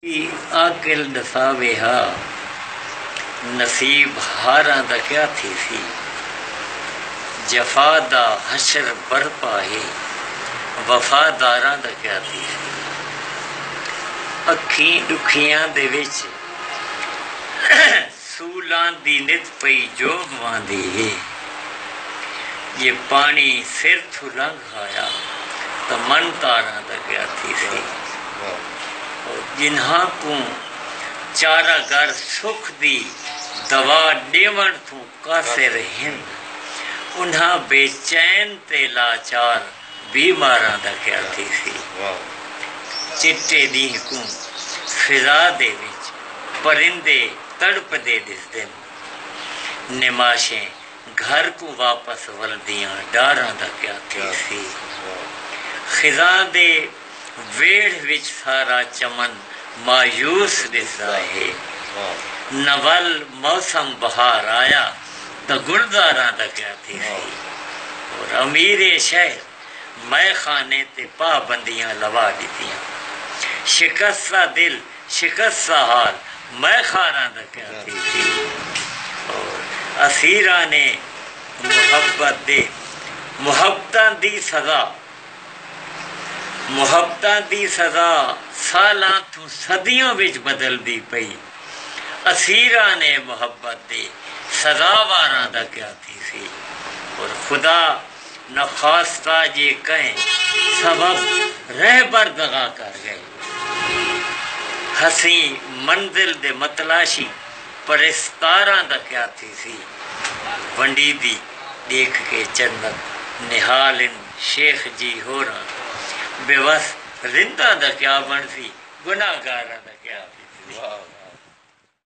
ای عاقل ݙساوے ہا نصیب ہاراں دا کیا تھیسی جفا دا حشر برپا ہے وفا داراں دا کیا تھیسی اکھیں ݙکھیاں دے وچ سولاں دی نت پئی جوب واندی ہے جے پاݨی سر تھوں لنگھ کھایا تاں من تاراں دا گیا تھیسی او جنہاں کوں چارہ گر سکھ دی دوا ݙیوݨ توں قاصر ہن انہاں بے چین تے لاچار بی ماراں دا گیا تھیسی چٹے ݙینہہ کوں فضا دے وچ پرندے تڑپدے ݙسدن نماشیں گھر کوں واپس ولدیاں ڈاراں دا کیا تھیسی۔ خزاں دے ویڑھ وچ سارا چمن مایوس ڈسدا ہے۔ نہ ول موسم بہار آیا تاں گلزاراں دا کیا تھیسی۔ اور امیر شہر مئے خانے تے پابندیاں لوا ڈتیاں۔ شکستہ دل شکست دا حال میں خاراں دا کیا تھی تھی اسیراں نے محبت دے محبتاں دی سزا محبتاں دی سزا سالاں توں صدیاں وچ بدلدی پئی اسیراں نے محبت دے سزا واراں دا کیا تھی سی اور خدا نخواستہ جے کہیں سبب رہبر دغا کر گئے ہسیں منزل دے متلاشی پریسکاراں دا کیا تھیسی ونڈیدی ڈیکھ کے چنت نہال ان شیخ جی ہوراں بے وس رنداں دا کیا بنسی گناہگاراں دا کیا تھیسی واہ واہ